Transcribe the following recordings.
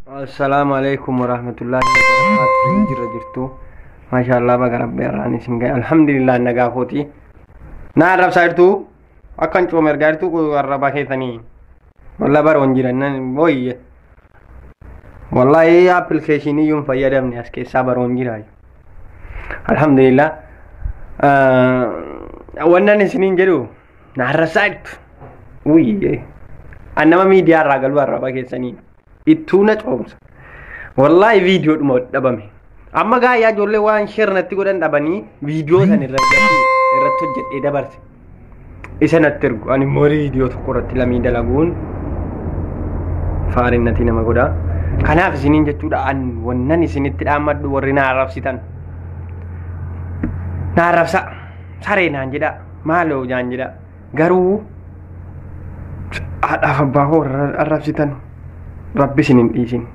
Assalaamu alaikum warahmatullaahi wabarakaatuh jirra jirtu maashaallah baga rabbi irraan isin gahe alhamdulillah nagaa kooti naa arrabsaa jirtu akkan cooma ergaa jirtu kun arrabaa keessanii walla baroon jiran nan booyye wallahi appilikeeshinii yoon fayyadamne as keessaa baroon jira alhamdulillah wannan isiniin jedhu Na arrabsaa jirtu. Uyyee. An nama miidiyaa irraa galuu arraba keessanii ittuu na coomsa. Wallaahi viidiyoo dhuma dhabame. Amma gaayyaa ijoollee waan sheer natti godhan dhabanii viidiyoo san irra irratti hojjedhee dabarse. Isa natti ergu ani immoo viidiyoo tokko irratti lamii dalaguun faariin natti nama godha. Kanaaf isiniin jechuudha an wannan isinitti dhaammadhu warri na arrabsitan. Na arrabsa saree naan jedhaa. maaloo jaan jedha garuu haadhaaf abbaa koo arrabsitan rabbi isin hin dhiisin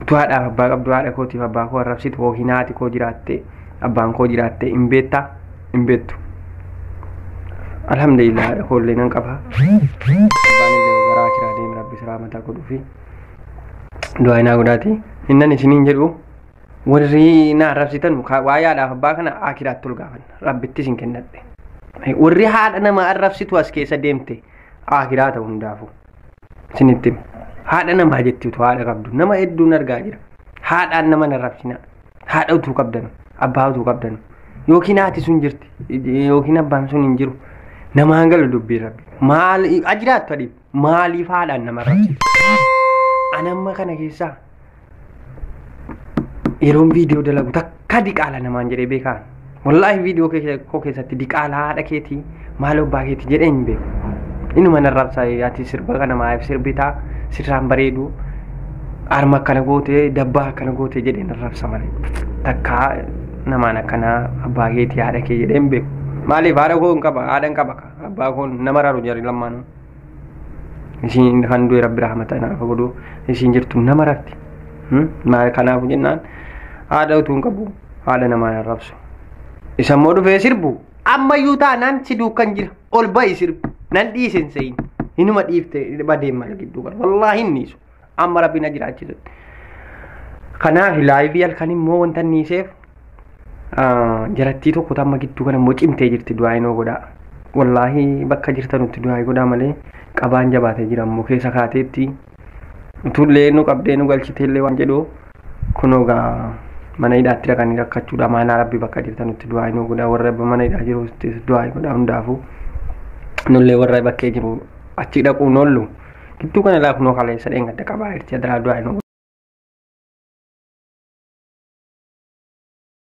utuu haadhaaf abbaa qabdu haadha kootiif abbaa koo arrabsitu yookiin haati koo jiraatte abbaan koo jiraatte hin beektaa hin beektu alhamdulillah haadha koo illee nan qaba abbaan illee garaa kiraa deeme rabbi siraa mataa godhuufi du'aa naa godhaati innan isiniin jedhu warri na arrabsitan waa'ee haadhaaf abbaa kana akiraatti ol gaafanna. Rabbittis hin kennadhe. Warri haadha nama arrabsitu as keessa deemte aakiraa ta'u hundaafu. Isinitti hima. Haadha namaa jetti utuu haadha qabdu. Nama hedduun argaa jira. Haadhaan nama hin arrabsina. Haadha utuu qabdanu. Abbaa utuu qabdanu. Yookiin haati sun jirti. Yookiin abbaan sun hin jiru. Namaan galu dubbii rabbi. Maal ajiraattu adiin. maaliif haadhaan nama arrabsite? An amma kana keessaa yeroon viidiyoo dalagu takka diqaala namaan jedhee beekaan. Wallaahi viidiyoo kee- koo keessatti diqaala haadha keetii maal abbaa keetii jedhee hin beeku. Inuma na arrabsaa ati sirba kana maaf sirbitaa sirraan bareedu harma akkana gootee dabbaa akkana gootee jedhee na arrabsa malee. Takka namaan akkanaa abbaa keetii haadha kee jedhee hin beeku. Maaliif haadha koo hin qaba haadha hin qaba kaa. abbaa koo nama raaru jarri lammaanuu isiin kan du'e rabbi rahmata naaf godhu isiin jirtu nama rarti maal kanaafu jennaan haadha utuu hin qabu haadha namaa hin rabsu isa immoo dhufee sirbu ammayyuu taanaan si duukan jira ol ba'i sirbu nan dhiise hin se'in hinuma dhiifte badeemma gidduu bara wallaahi hin dhiisu amma rabbi na jiraachise kanaaf laayivii halkan immoo wanta niiseef jarattii tokko tamma gidduu kana immoo cimtee jirti du'aa inoo godhaa wallaahi bakka jirtanutti du'aa godhaa malee qabaan jabaatee jira immoo keessa kaateetti utullee nu qabdee nu galchiteellee waan jedhu kunoo gaa mana hidhaatti dhaqanii rakkachuudha maanaa rabbi bakka jirtanutti du'aa inoo godhaa warra mana hidhaa jiru du'aa godhaa hundaafuu nullee warra bakkee jiru achi dhaquun oollu Gidduu kana ilaa kunoo kaleessa dheengadda qabaa irti adaraa du'aa hin